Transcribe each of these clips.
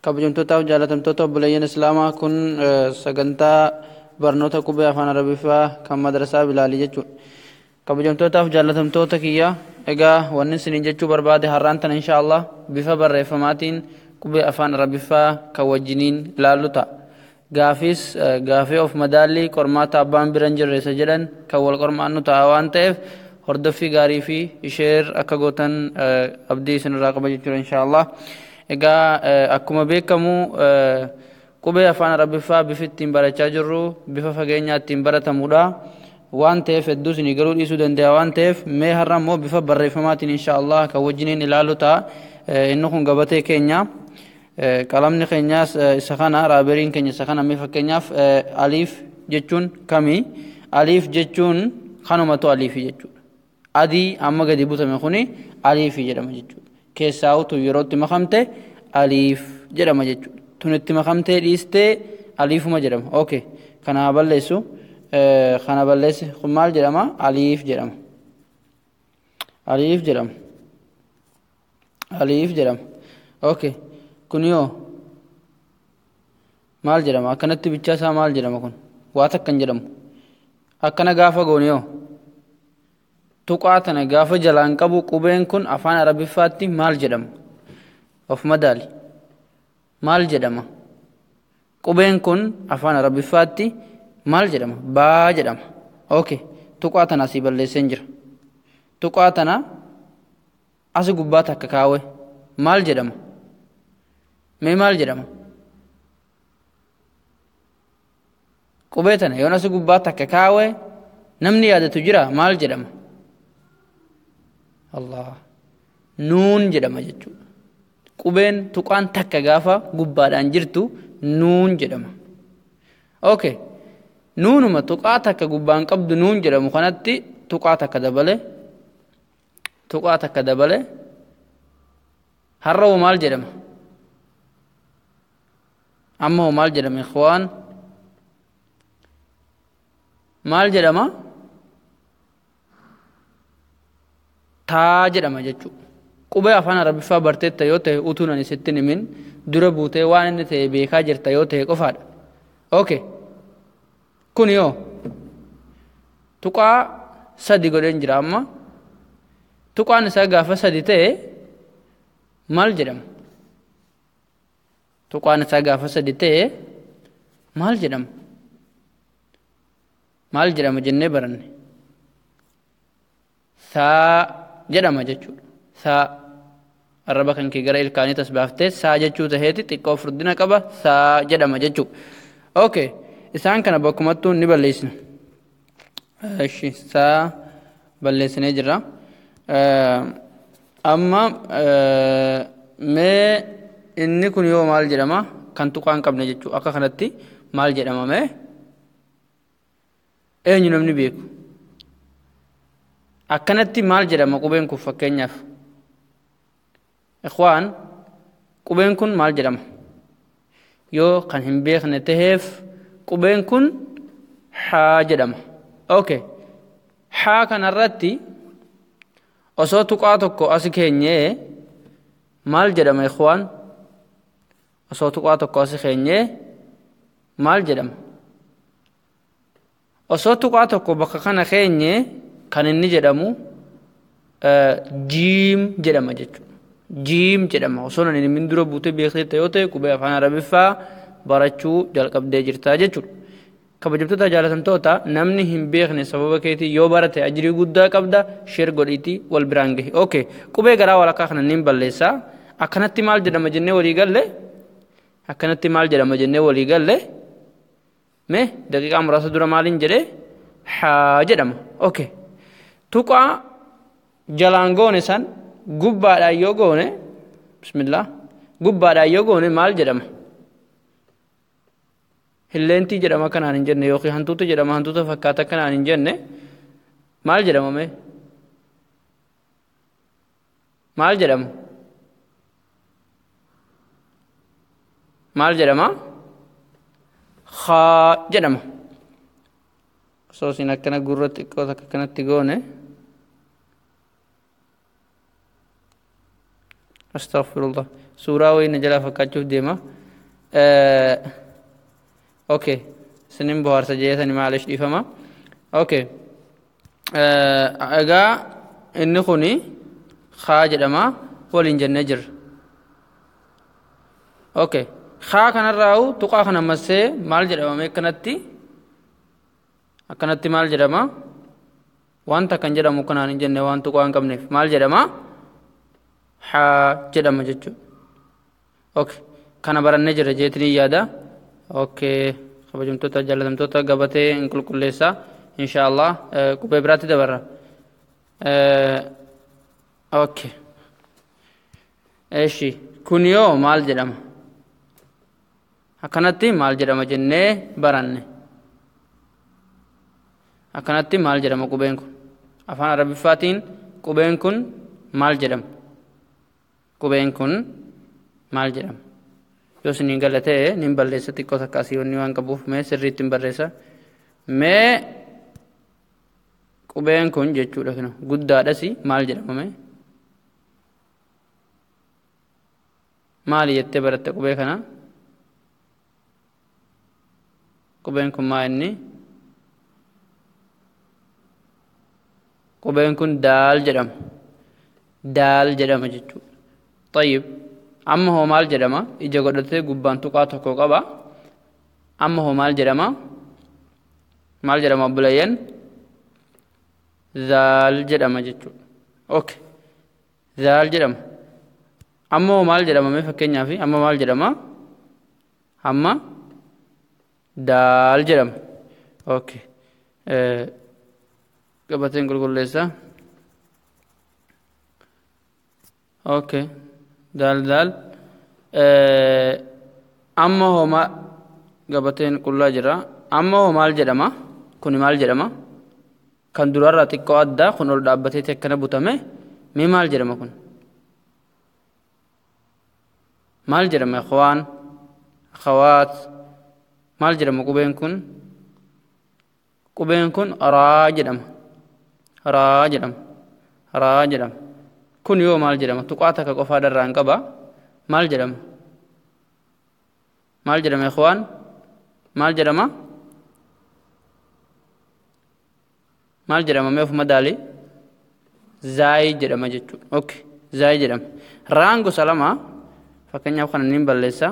kabajamtootaaf jaalatamtoota obboleeyyan islaamaa kun sagantaa barnoota qubee afaan arabiffaa kan madrasaa bilaalii jechuudha kabajamtootaaf jaalatamtoota kiyya egaa wanni isiniin jechuu barbaade har'aan tana insha allah bifa barreeffamaatiin qubee afaan arabiffaa kan wajjiniin ilaallu ta'a Gaafiis gaafii of madaallii qormaata abbaan bira hin jirre isa jedhan kan wal qormaannu ta'a waan ta'eef hordoffii gaarii fi isheer akka gootan abdii isinirraa qaba jechuudha inshaallah. Egaa akkuma beekamu qubee afaan arabiffaa bifi ittiin barachaa jirru bifa fageenyaa ittiin baratamudha. Waan ta'eef hedduu isinii galuu dhiisuu danda'a waan ta'eef mee har'a immoo bifa barreeffamaatiin inshaallah kan wajjiniin ilaalu ta'a. Inni kun gabatee keenya. Qalamni keenyaas isa kana raaberiin keenya isa kana mee fakkeenyaaf aliif jechuun kami aliif jechuun kanumatu aliifi jechuudha. Adii amma gadi butame kuni aliifi jedhama jechuudha. Keessaa utu yeroo itti makamte aliif jedhama jechuudha. Tun itti makamtee dhiistee aliifuma jedhama. Okay. Kana haa balleessu. Kana balleessi kun maal jedhama aliif jedhama. Aliif jedhama. aliif jedhama okay kun yoo maal jedhama akkanatti bichaa isaa maal jedhama kun waa takka hin jedhamu akkana gaafa goone yoo tuqaa tana gaafa jalaan qabu qubeen kun afaan arabiffaatti maal jedhama of madaali maal jedhama qubeen kun afaan arabiffaatti maal jedhama baa jedhama okay tuqaa tana asii balleesseen jira tuqaa tana Asi gubbaa takka kaawe maal jedhama? Mee maal jedhama? Qubee tana yoon asi gubbaa takka kaawe namni yaadatu jira maal jedhama? Allah nuun jedhama jechuudha. Qubeen tuqaan takka gaafa gubbaadhaan jirtu nuun jedhama. Okay. Nuunuma tuqaa takka gubbaan qabdu nuun jedhamu kanatti tuqaa takka dabale tuqaa takka dabale har'a hoo maal jedhama amma hoo maal jedhama ikhwaan maal jedhama taa jedhama jechuu qubee afaan arabiffaa barteetta yoo ta'e utuun ani sitti himin dura buutee waan inni ta'e beekaa jirta yoo ta'e qofaadha okay Kuni hoo tuqaa sadi godheen jira amma tuqaan isaa gaafa sadi ta'e maal jedhama? Tuqaan isaa gaafa sadi ta'e maal jedhama? Maal jedhama jennee baranne? Saa jedhama jechuudha. Saa arraba kan kee gara ilkaanii tasbaaftee saa jechuu taheeti xiqqoo furdina qaba saa jedhama jechuudha. Okay. Isaan kana bakkumattuu ni balleessina. Ishi saa balleessinee jirra. Amma mee inni kun yoo maal jedhama kan tuqaa hin qabne jechuudha. Akka kanatti maal jedhama mee? eenyu namni beeku akkanatti maal jedhama qubeen kun fakkeenyaaf ikhwaan qubeen kun maal jedhama yoo kan hin beekne taheef qubeen kun haa jedhama okay haa kanarratti osoo tuqaa tokko asi keenyee maal jedhama ikhwaan osoo tuqaa tokko asi keenyee maal jedhama osoo tuqaa tokko bakka kana keenye kan inni jedhamu jiim jedhama jechuudha jiim jedhama osoo nan inni dura buutee beektee yoo ta'e qubee afaan arabiffaa barachuu jalqabdee jirtaa jechuudha kabajamtoota jaalatamtoota namni hin beekne sababa keetii yoo barate ajrii guddaa qabda sheer godhiitii wal biraan gahi ok qubee garaa walakkaa kana niin balleessa akkanatti maal jedhama jennee walii galle akkanatti maal jedhama jennee walii galle mee daqiiqaa muraasa dura maaliin jedhe haa jedhama ok tuqaa jalaan goone san gubbaadhaan yoo goone bismillah gubbaadhaan yoo goone maal jedhama Hilleentii jedhama kanaan hin jenne yookiin hantuuta jedhama hantuuta fakkaata kanaan hin jenne maal jedhama mee? Maal jedhama? Maal jedhama? Haa jedhama. Osoo isin akkana gurra xiqqoo takka kanatti goone. Astaghfirullah. Suuraa wayii na jalaa fakkaachuuf deema. Okay. Isinin bohaarsa jeesani maalish dhiifama. Okay. Egaa inni kuni haa jedhama waliin jennee jirra. Okay. Haa kanarraa'u tuqaa kana massee maal jedhama mee akkanatti akkanatti maal jedhama? Waan takka hin jedhamu akka naan hin jenne waan tuqaa hin qabneef maal jedhama? Haa jedhama jechuudha. Okay. Kana barannee jirra jeetanii yaada. Okay. Kabajamtoota jaalatamtoota gabatee hin qulqulleessaa. Inshaallah qubee biraatti dabarra. Okay. Eshi kun yoo maal jedhama? Akkanatti maal jedhama jennee baranne? Akkanatti maal jedhama qubeen kun? Afaan Arabiffaatiin qubeen kun maal jedhama? Qubeen kun maal jedhama? Yoo isin gala ta'e nin balleessa xiqqoo takka asii wanni waan qabuuf mee sirriitti hin barreessa. Mee qubeen kun jechuudha kinu guddaadhasi maal jedhama mee? Maali jettee baratte qubee kana? Qubeen kun maa inni? Qubeen kun daal jedhama. Daal jedhama jechuudha. Tayyib. Amma hoo maal jedhama? Ija godhatee gubbaan tuqaa tokko qaba. Amma hoo maal jedhama? Maal jedhama obboleeyyan? Zaal jedhama jechuudha. Okay. zaal jedhama amma hoo maal jedhama mee fakkeenyaaf amma maal jedhama amma daal jedhama okay Eh, gabateen qulqulleessaa okay daal daal Eh, amma hoo ma gabateen qullaa jira amma hoo maal jedhama kuni maal jedhama kan durarraa xiqqoo adda kun ol dhaabbateeti akkana butame mee maal jedhama kun maal jedhama ikhwaan akhawaat maal jedhama qubeen kun qubeen kun raa jedhama raa jedhama raa jedhama kun yoo maal jedhama tuqaa takka qofaa dharraan qaba maal jedhama maal jedhama ikhwaan maal jedhama maal jedhama mee ofuma daali zaayi jedhama jechuudha okay zaayi jedhama raan gosa lama fakkeenyaaf kana niin balleessa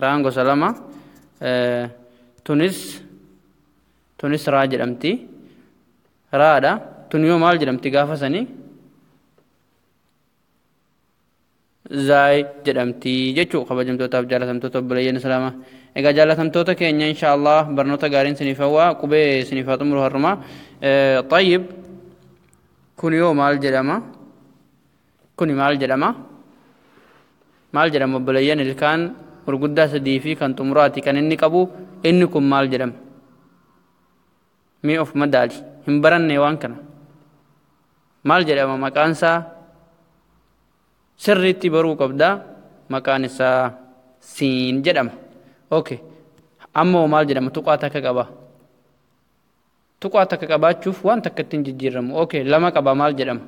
raan gosa lama tunis tunis raa jedhamti raadha tun yoo maal jedhamti gaafa sanii zaay jedhamti jechuu kabajamtootaaf jaalatamtoota obboleeyyan islaama egaa jaalatamtoota keenya insha allah barnoota gaariin siniif hawwaa qubee siniif haa xumuru har'uma xayyib kun yoo maal jedhama kuni maal jedhama maal jedhama obboleeyyan ilkaan gurguddaa sadii fi kan xumuraati kan inni qabu inni kun maal jedhama mee of madaali hin baranne waan kana maal jedhama maqaansaa sirriitti baruu qabda maqaan isaa siin jedhama ok amma hoo maal jedhama tuqaa takka qaba tuqaa takka qabaachuuf waan takka ittiin jijjiirramu ok lama qaba maal jedhama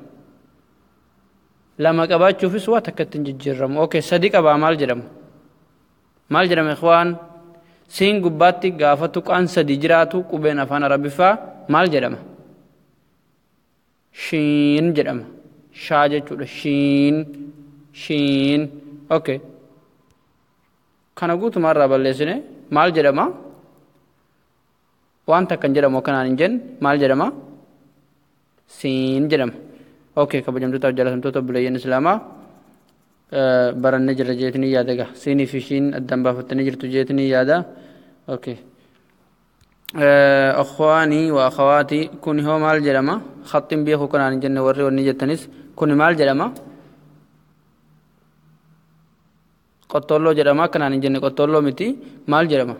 lama qabaachuufis waa takka ittiin jijjiirramu ok sadi qabaa maal jedhama maal jedhama ikhwaan siin gubbaatti gaafa tuqaan sadi jiraatu qubeen afaan arabiffaa maal jedhama shiin jedhama shaa jechuudha shiin shiin okay kana guutumaa irraa balleessine maal jedhama wanta akkan jedhamu akkanaan hin jenne maal jedhama siin jedhama okay kabajamtootaaf jaalatamtoota obboleeyyan islaamaa barannee jirra jeetanii yaada egaa siinii fi shiin addaan baafattanii jirtu jeetanii yaada okay Akhwaanii wa akhawaatii kuni hoo maal jedhama? Khaxxiin beekuu kanaan hin jenne warri wanni jettanis kuni maal jedhama? Qottoolloo jedhama kanaan hin jenne qottoolloo miti maal jedhama?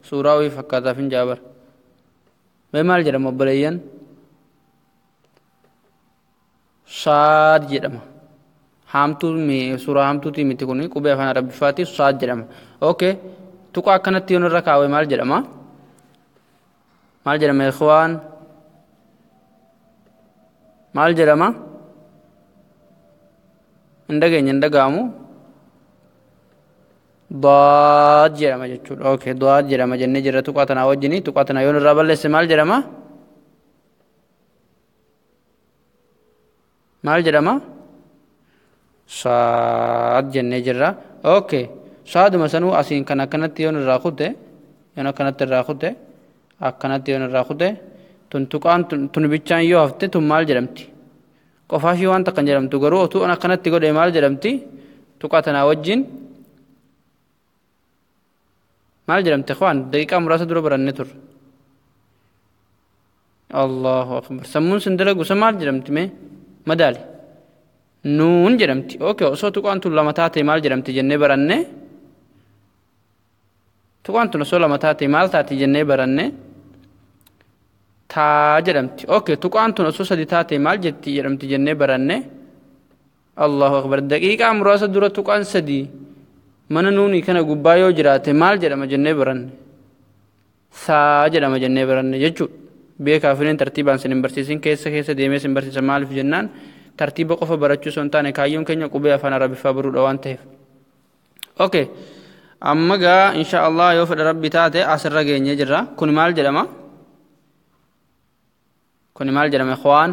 Suuraa wayii fakkaataaf hin jaabara. Mee maal jedhama obboleeyyan? saad jedhama haamtuu suuraa haamtuutii miti kun qubee afaan arabbiffaatiif saad jedhama okay tuqaa akkanatti yoon irra kaawee maal jedhama maal jedhama ikhwaan maal jedhama hin dhageenye hin dhaga'amu daad jedhama jechuudha okay daad jedhama jennee jirra tuqaa tanaa wajjini tuqaa tanaa yoon irraa balleesse maal jedhama maal jedhama saad jennee jirra okay saaduma sanuu asiin kan akkanatti yoon irraa kute yoon akkanatti irraa kute akkanatti yoon irraa kute tun tuqaan tun tun bichaan yoo hafte tun maal jedhamti qofaa ishii waan takka hin jedhamtu garuu otuu an akkanatti godhe maal jedhamti tuqaa tanaa wajjin maal jedhamte waan daqiiqaa muraasa dura baranne turre allahu akbar sammuun sin dalagu san maal jedhamti mee madaali nuun jedhamti okay osoo tuqaan tun lama taate maal jedhamti jennee baranne tuqaan tun osoo lama taate maal taati jennee baranne taa jedhamti okay tuqaan tun osoo sadi taate maal jetti jedhamti jennee baranne Allahu akbar daqiiqaa muraasa dura tuqaan sadii mana nuuni kana gubbaa yoo jiraate maal jedhama jennee baranne saa jedhama jennee baranne jechuudha beekaa firiin tartiibaan sin hin barsiisin keessa keessa deemee sin barsiisa maaliif jennaan tartiiba qofa barachuu osoo hin taane kaayyoon keenya qubee afaan arabiffaa baruudha waan ta'eef. Okay. amma gaa insha Allah yoo fedha rabbi taate asirra geenye jirra kun maal jedhama kuni maal jedhama ikhwaan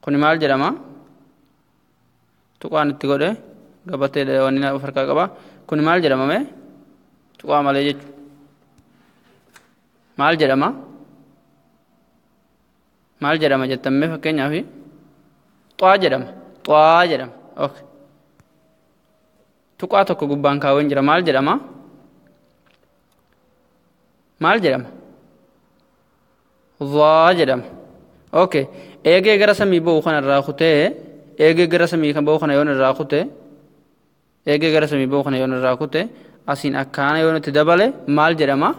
kuni maal jedhama tuqaan itti godhe gabatee wanni of harkaa qaba kuni maal jedhama mee tuqaa malee jechu maal jedhama maal jedhama jettan mee fakkeenyaaf xaa jedhama xaa jedhama okay Tuqaa tokko gubbaan kaaween jira maal jedhama? Maal jedhama? Zaa jedhama. Okay. Eegee gara samii ba'u kana irraa kutee eegee gara samii kan ba'u kana yoon irraa kute eegee gara samii ba'u kana yoon irraa kute asiin akkaana yoon itti dabale maal jedhama?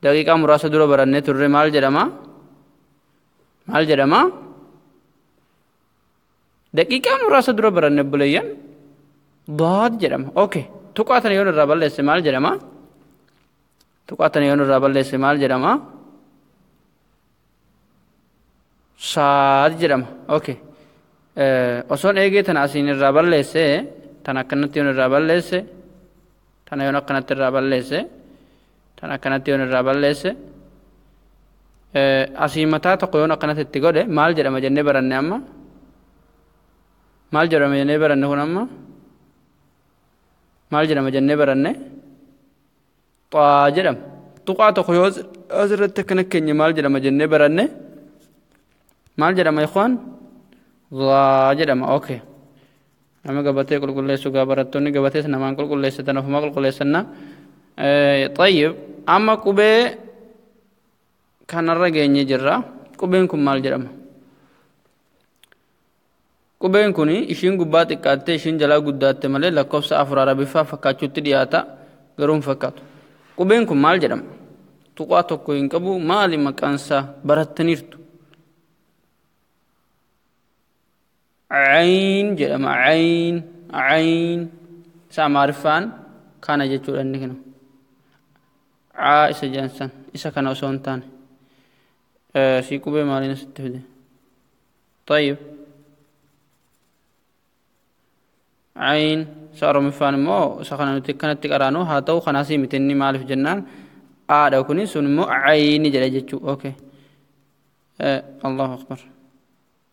Daqiiqaa muraasa dura barannee turre maal jedhama? Maal jedhama? Daqiiqaa muraasa dura baranne obboleeyyan daad jedhama. Ok tuqaa tana yoon irraa balleesse maal jedhama? Tuqaa tana yoon irraa balleesse maal jedhama? Saad jedhama. Ok osoon eegee tana asiin irraa balleesse tana akkanatti yoon irraa balleesse tana yoon akkanatti irraa balleesse. tan akkanatti yoon irraa balleesse asii mataa tokko yoon akkanatti itti godhe maal jedhama jennee baranne amma maal jedhama jennee baranne kun amma maal jedhama jennee baranne xaa jedhama tuqaa tokko yoo asirratti akkana keenya maal jedhama jennee baranne maal jedhama ikhwaan zaa jedhama okay nama gabatee qulqulleessu gaa barattoonni gabatees namaan qulqulleessitan ofumaa qulqulleessanna xayyib amma qubee kanarra geenye jirra qubeen kun maal jedhama qubeen kun ishiin gubbaa xiqqaattee ishiin jalaa guddaatte malee lakkoofsa afur arabiffaa fakkaachuutti dhiyaata garuu hin fakkaatu qubeen kun maal jedhama tuqaa tokko hin qabu maali maqaansaa barattaniirtu Ayn jedhama ayn ayn isa amaariffaan kana jechuudha inni kana aa isa jedhan san isa kana osoo hin taane sii qubee maaliin asitti fide طيب ayn isa oromiffaan immoo isa kana nuti kanatti qaraanu haa ta'u kanaas miti inni maaliif jennaan aadha kuni sun immoo ayni jedha jechuu okay allahu akbar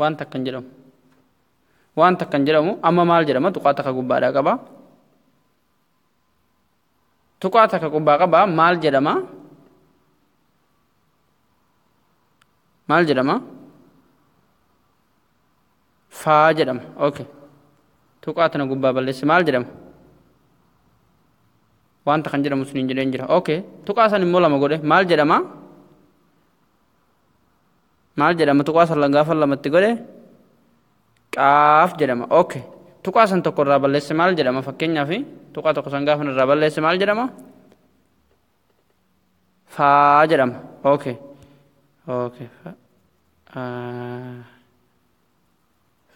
waan takka hin jedhamu waan takka hin jedhamu amma maal jedhama tuqaa takka gubbaadhaa qaba tuqaa takka gubbaa qaba maal jedhama maal jedhama faa jedhama okay tuqaa tana gubbaa balleessi maal jedhama wanta kan jedhamu sun hin jedheen jira okay tuqaa san immoo lama godhe maal jedhama maal jedhama tuqaa san gaafa lamatti godhe qaaf jedhama ok tuqaa san tokko irraa balleesse maal jedhama fakkeenyaaf tuqaa tokko san gaafa irraa balleesse maal jedhama faa jedhama ok ok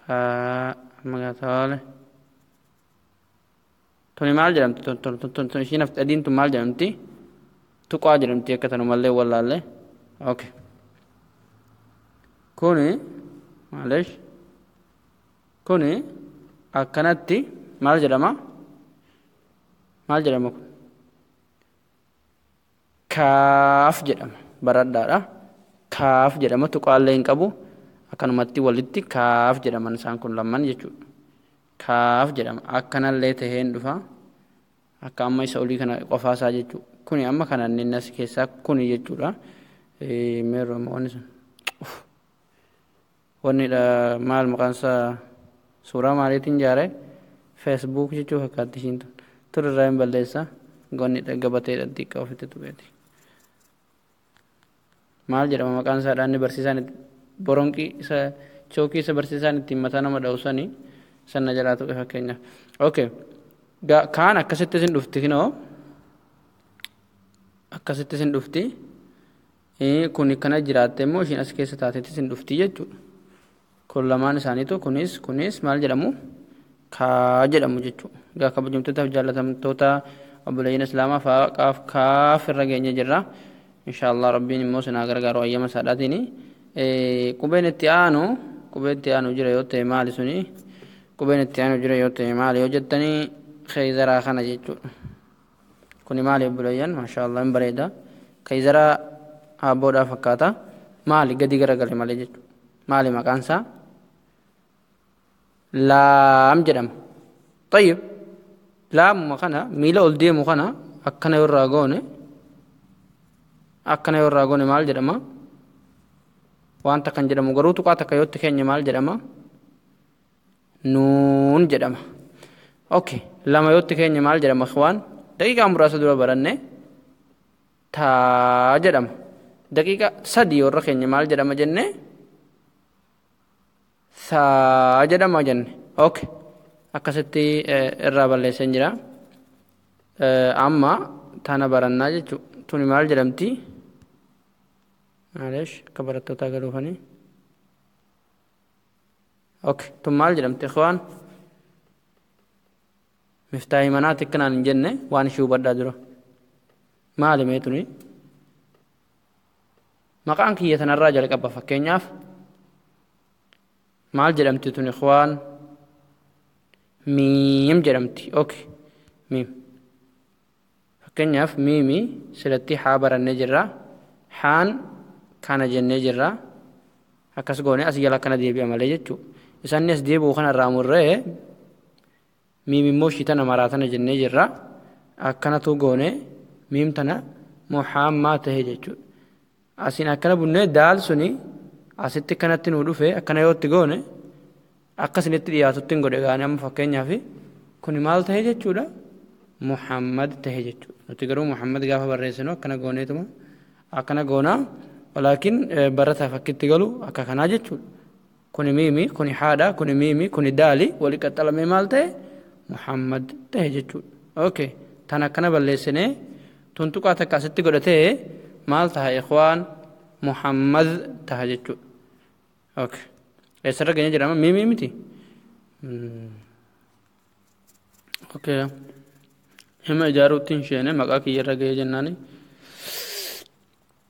faa magaataale tuni maal jedhamti tun tun tun tun tun ishiin hafte adiin tun maal jedhamti tuqaa jedhamti akka tanumallee wallaallee okay kuni maaleesh kuni akkanatti maal jedhama maal jedhama kun Kaaf jedhama. Baradhaadha. Kaaf jedhama. Tuqaallee hin qabu. Akkanumatti walitti kaaf jedhaman isaan kun lamman jechuudha. Kaaf jedhama. Akkanallee tahee hin dhufa. Akka amma isa olii kana qofaasaa jechuudha. Kuni amma kana inni nasi keessaa kuni jechuudha. Meerroo amma wanni sun. Wanni dha maal maqaan isaa suuraa maaliitiin jaare facebook jechuu fakkaatti ishiin tun tun irraa hin balleessa wanni dha gabatee dha xiqqaa ofitti tuqeeti maal jedhama maqaan isaa dhaanni barsiisaan boronqii isa chookii isa barsiisaan ittiin mataa nama dha'u sani sanna jalaa tuqe fakkeenya okay kaan akkasitti isin dhufti kinoo akkasitti isin dhufti Kuni kana jiraatte immoo ishiin as keessa taatetis hin dhufti jechuudha. Kun lamaan isaaniitu kunis kunis maal jedhamu kaa jedhamu jechuudha. Egaa kabajamtootaaf jaallatamtoota obboleeyyan islaamaa faa qaaf kaaf irra geenye jirra. Inshaallah rabbiin immoo sinaa gargaaru ayyama saadhaatiini. Qubeen itti aanu qubee itti aanu jira yoo ta'e maali suni qubeen itti aanu jira yoo ta'e maali yoo jettanii keeyzaraa kana jechuudha. Kuni maali obboleeyyan maashaallah hin bareeda kayzara haabboodhaa fakkaata maali gadi garagale malee jechu maali maqaan isaa laam jedhama tayyib laamuma kana miila ol deemu kana akkana yoo irraa goone akkana yoo irraa goone maal jedhama wanta kan jedhamu garuu tuqaa takka yootti keenya maal jedhama nuun jedhama ok lama yootti keenya maal jedhama ikhwaan daqiiqaa muraasa dura baranne taa jedhama daqiiqa sadii warra keenya maal jedhama jenne saa jedhama jenne ok akkasitti irraa balleessan jira amma tana barannaa jechu tuni maal jedhamti maaleesh akka barattootaa galuufanii Okay. Tun maal jedhamti ikhwaan? Miftaahi manaati akkanaan hin jenne waan ishii hubadhaa dura. Maali mee tuni? Maqaan kiyya tanarraa jalqaba fakkeenyaaf maal jedhamti tun ikhwaan? Miim jedhamti. Okay. Miim. Fakkeenyaaf, miimi silattii haa barannee jirra. Haan kana jennee jirra. Akkas goone asii jala akkana deebi'a malee jechuu. Isa inni as deebi'u kana irraa murree miim immoo ishii tana maraa tana jennee jirra. Akkanatuu goone miim tana muhaammaa tahe jechuudha. Asiin akkana bunnee daal suni asitti kanatti nuu dhufe akkana yoo itti goone akka isinitti dhiyaatutti hin godhe gaane amma fakkeenyaaf kuni maal ta'e jechuudha Muhammad ta'e jechuudha nuti garuu Muhammad gaafa barreessinu akkana gooneetuma akkana goonaa walaakin barataa fakkitti galu akka kanaa jechuudha. kuni miimi kuni haadha kuni miimi kuni daali wali qaxxalamee maal ta'e muhammad ta'e jechuudha okay tan akkana balleessinee tuntuqaa takka asitti godhatee maal taha ikhwaan muhammad taha jechuudha okay eessarra geenye jedhama miimi miti okay hima ijaaruutti hin sheene maqaa kiyyarra ga'ee jennaani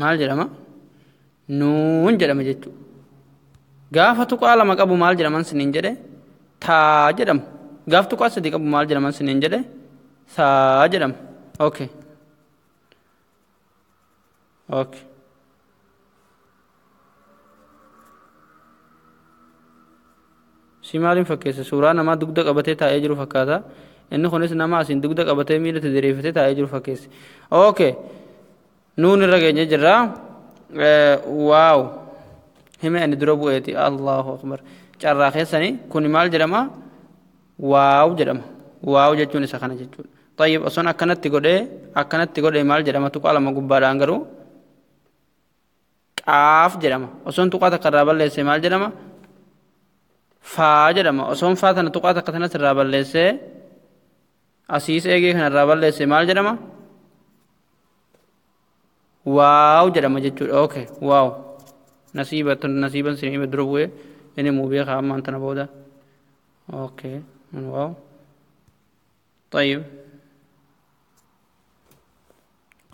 maal jedhama nuun jedhama jechuu gaafa tuqaa lama qabu maal jedhaman siniin jedhe taa jedhama gaaf tuqaa sadii qabu maal jedhaman siniin jedhe saa jedhama okay okay si maaliin fakkeessa suuraa namaa dugda qabatee taa'ee jiru fakkaata inni kunis nama asiin dugda qabatee miila itti diriirfatee taa'ee jiru fakkeessi okay nuun irra geenye jirra waaw hime ani dura bu'eeti allahu akbar carraa keessani kuni maal jedhama waaw jedhama waaw jechuun isa kana jechuudha طيب osoo akkanatti godhee akkanatti godhee maal jedhama tuqaa lama gubbaadhaan garuu qaaf jedhama osoon tuqaa takka irraa balleesse maal jedhama faa jedhama osoon faa tana tuqaa takka tanas irraa balleesse asiis eegee kana irraa balleesse maal jedhama waaw jedhama jechuudha oke waaw nasiiba nasiiban sin hime dura bu'ee inni muu beekaa ammaan tana booda oke waaw طيب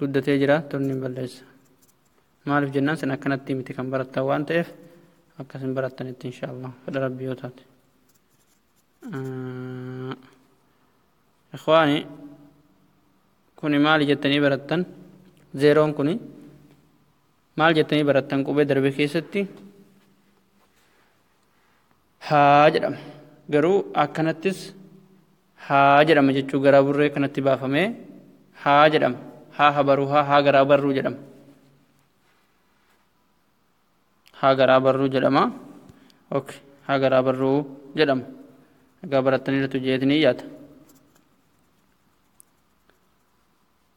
guddatee jira tonni hin balleessa maaliif jennaan sin akkanatti miti kan barattan waan ta'eef akkas hin barattanitti insha allah fedha rabbii yoo taate ikhwaani kuni maali jettanii barattan zeeroon kuni maal jettanii barattan qubee darbe keessatti haa jedhama. Garuu akkanattis haa jedhama jechuu garaa burree kanatti baafamee haa jedhama. Haa habaruu haa haa garaa barruu jedhama. Haa garaa barruu jedhama. Ok haa garaa barruu jedhama. Egaa barattaniirtu jeetni yaada.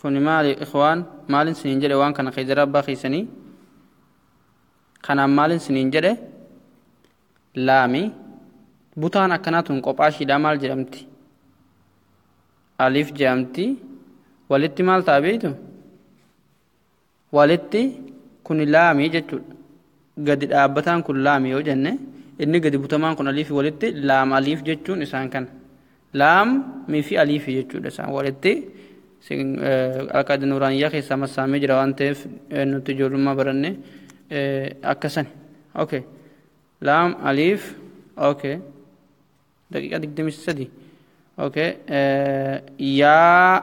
Kuni maali ikhwaan maalin sinin jedhe waan kana keedara abbaa keessanii kanaan maalin sinin jedhe laami butaan akkanaa tun qophaashiidhaa maal jedhamti alif jedhamti walitti maal ta'a beeytu Walitti kuni laami jechuudha. Gadi dhaabbataan kun laami yoo jenne inni gadi butamaan kun aliifi walitti laam aliif jechuun isaan kana. Laam miifi aliifi jechuudha isaan walitti alqaada nuuraaniyyaa keessaa massaamee jira waan ta'eef nuti ijoollummaa baranne akka sani. Okay. Laam aliif okay. daqiiqaa digdamii sadi okay yaa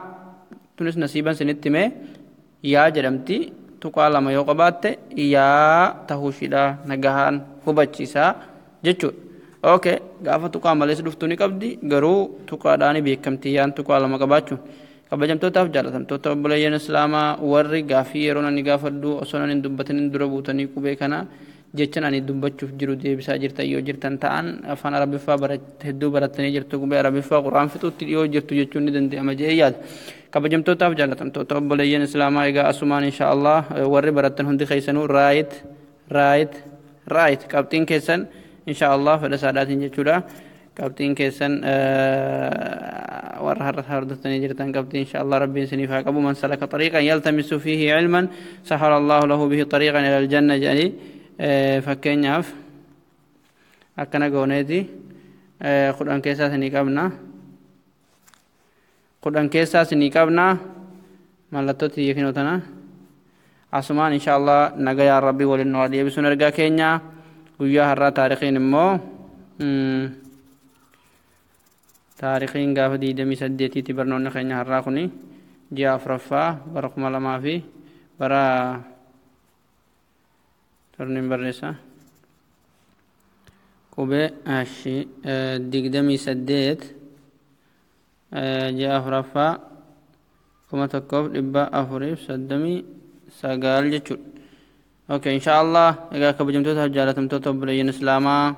tunis nasiiban sinitti mee yaa jedhamti tuqaa lama yoo qabaatte yaa tahuu ishiidha nagahaan hubachiisaa jechuudha okay gaafa tuqaa malees dhuftuu ni qabdi garuu tuqaadhaan beekamti yaan tuqaa lama qabaachuun kabajamtootaaf jaalatamtoota obboleeyyan islaamaa warri gaafii yeroo nani gaafadhu osoo nan hin dubbatin dura buutanii qubee kana jechan ani dubbachuf jiru deebisaa jirtan yoo jirtan ta'an afaan arabiffaa hedduu barattanii jirtu qubee arabiffaa quraan fixuutti dhiyoo jirtu jechuun ni danda'ama jedhee yaada kabajamtootaaf jaalatamtoota obboleeyyan islaamaa egaa asumaan insha allah warri barattan hundi keessanuu raayit raayit raayit qabxiin keessan insha allah fedha saadhaatiin jechuudha Qabxiin keessan warra har'a hordoftanii jirtan qabxii insha Allah rabbiin isiniif haa qabu man salaka xariiqan yaltamisu fiihi ilman sahara Allahu lahu bihi xariiqan ila aljanna jedhanii fakkeenyaaf akkana gooneeti kudhan keessaa isinii qabna. kudhan keessaa isinii qabna mallattoo tiyya kinoo tana asumaan insha allah nagayaan rabbii waliin nu haa deebisuun ergaa keenya guyyaa har'aa taarikiin immoo taarikiin gaafa digdamii saddeetiitti barnoonni keenya har'aa kuni ji'a afraffaa bara kuma lamaa fi bara torniin barreessa qubee ashi digdamii saddeet ji'a afuraffaa kuma tokkoof dhibba afuriif soddomii sagaal jechuudha. Ok, insha Allah egaa kabajamtoota jaalatamtoota obboleeyyan Islaamaa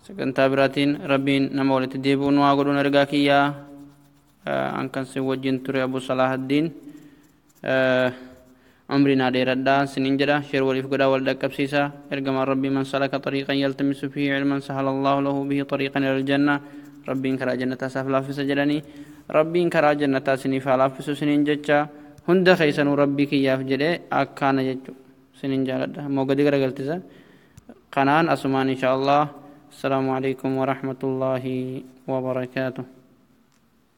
sagantaa biraatiin Rabbiin nama walitti deebi'u nu haa godhuun ergaa kiyyaa an kan sin wajjin ture Abu Salaahaddiin umrii naa dheeradhaa sinin jedha sheer waliif godhaa wal dhaqqabsiisa ergamaan rabbii man salaka xariiqan yaltamisu fihi cilman sahala allaahu lahu bihi xariiqan ila aljanna rabbiin karaa jannataa isaaf laaffisa jedhanii rabbiin karaa jannataa siniif haa laaffisu sinin jecha hunda keessanuu rabbii kiyyaaf jedhee akkaana jechu sinin jaaladha ammoo gadi garagaltisa kanaan asumaan insha allah assalaamu alaikum warahmatullaahi wabarakaatuh